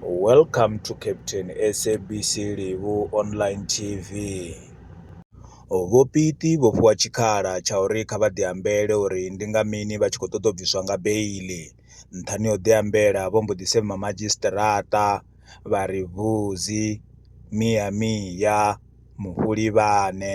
Welcome to Captain SABC Livhu Online TV. Vhopiti vho fhiwa tshikhala tsha uri kha vha ḓiambele uri ndi nga mini vha tshi khou ṱoḓa u bviswa nga beili. Nṱhani ho ḓiambela vho mbo ḓi sema madzhisiṱiraṱa vha ri vuzi, mia mia, mufhulivhane.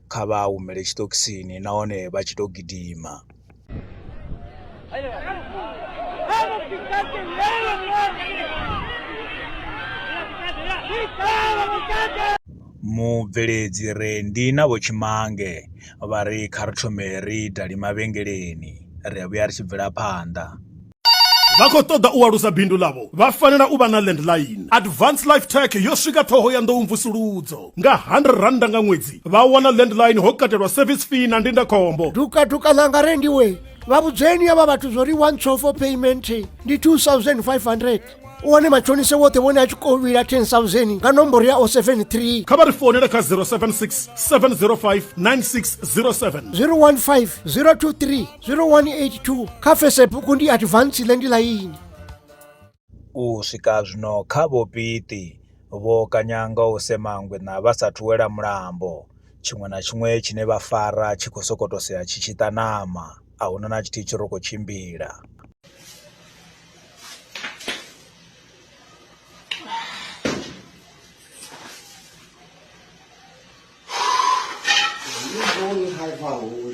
kha vha humele tshiṱokisini nahone vha tshi tou gidima mubveledzi re ndi na vho tshimange vha ri kha ri thome ri dali mavhengeleni ri a vhuya ri tshi bvela phanḓa vha khou ṱoḓa u alusa bindu ḽavho vha fanela u vha na landline advance life tech yo swika ṱhoho ya nḓou mvusuludzo nga 100 randa nga ṅwedzi vha wana landline ho katelwa service fee na ndindakhombo dukaduka ḽanga rendiwe vha vhudzeni avha vhathu zwo ri one two for payment ndi 2500 u wane matshonise woṱhe vhone a tshi khou vhila 10000 nga nomboro ya 073 kha vha ri founele kha 076 705 9607 015 023 0182 kha Facebook ndi Advance Land Line. U swika zwino kha vho Piti vho kanyanga u semangwe na vha sa thuwela mulambo tshiṅwe na tshiṅwe tshine vha fara tshi khou sokoto sea tshi tshi ṱanama a huna na tshithihi tshi ro khou tshimbila High power.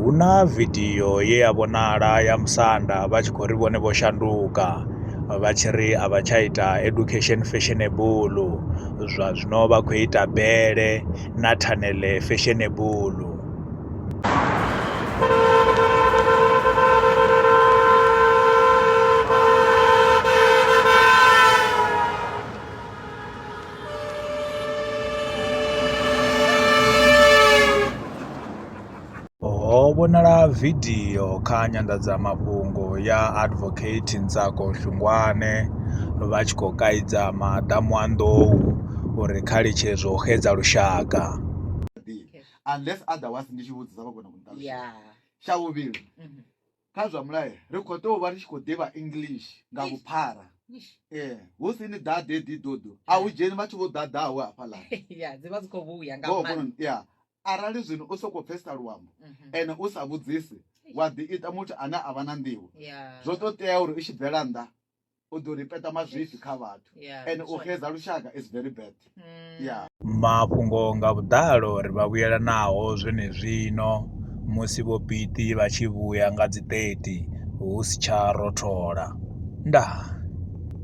Hu na vidio ye ya vhonala ya musanda vha tshi khou ri vhone vho shanduka vha tshi ri a vha tsha ita education fashionable zwa zwino vha khou ita bele na thanele fashionable Ho vhonala vidio kha nyanḓadzamafhungo ya Advocate Ntsako Shungwane vha tshi khou kaidza madamu a nḓou uri kha litshe zwo xedza lushaka. unless otherwise ndi tshi vhudzisa vha kona kunṱalusha tsha vhuvhili mhm. kha zwa mulayo ri khou tea u vha ri tshi khou ḓivha english nga vhuphara ee eh, hu si ni ḓaḓe ḓidodo a hu dzheni vhathu vho ḓaḓaho hafhaḽa arali zwino u sokou pfesesa luambo mhm. ene u sa vhudzisi wa ḓi ita muthu ane a vha na nḓivho zwo to tea uri u tshi bvela nnḓa u ḓo ripeta mazwifhi kha vhathu ende u xedza lushaka is very bad mm. ya mafhungo nga vhuḓalo ri vha vhuyela naho zwenezwino musi vho piti vha tshi vhuya nga dzi 30 hu si tsha rothola ndaa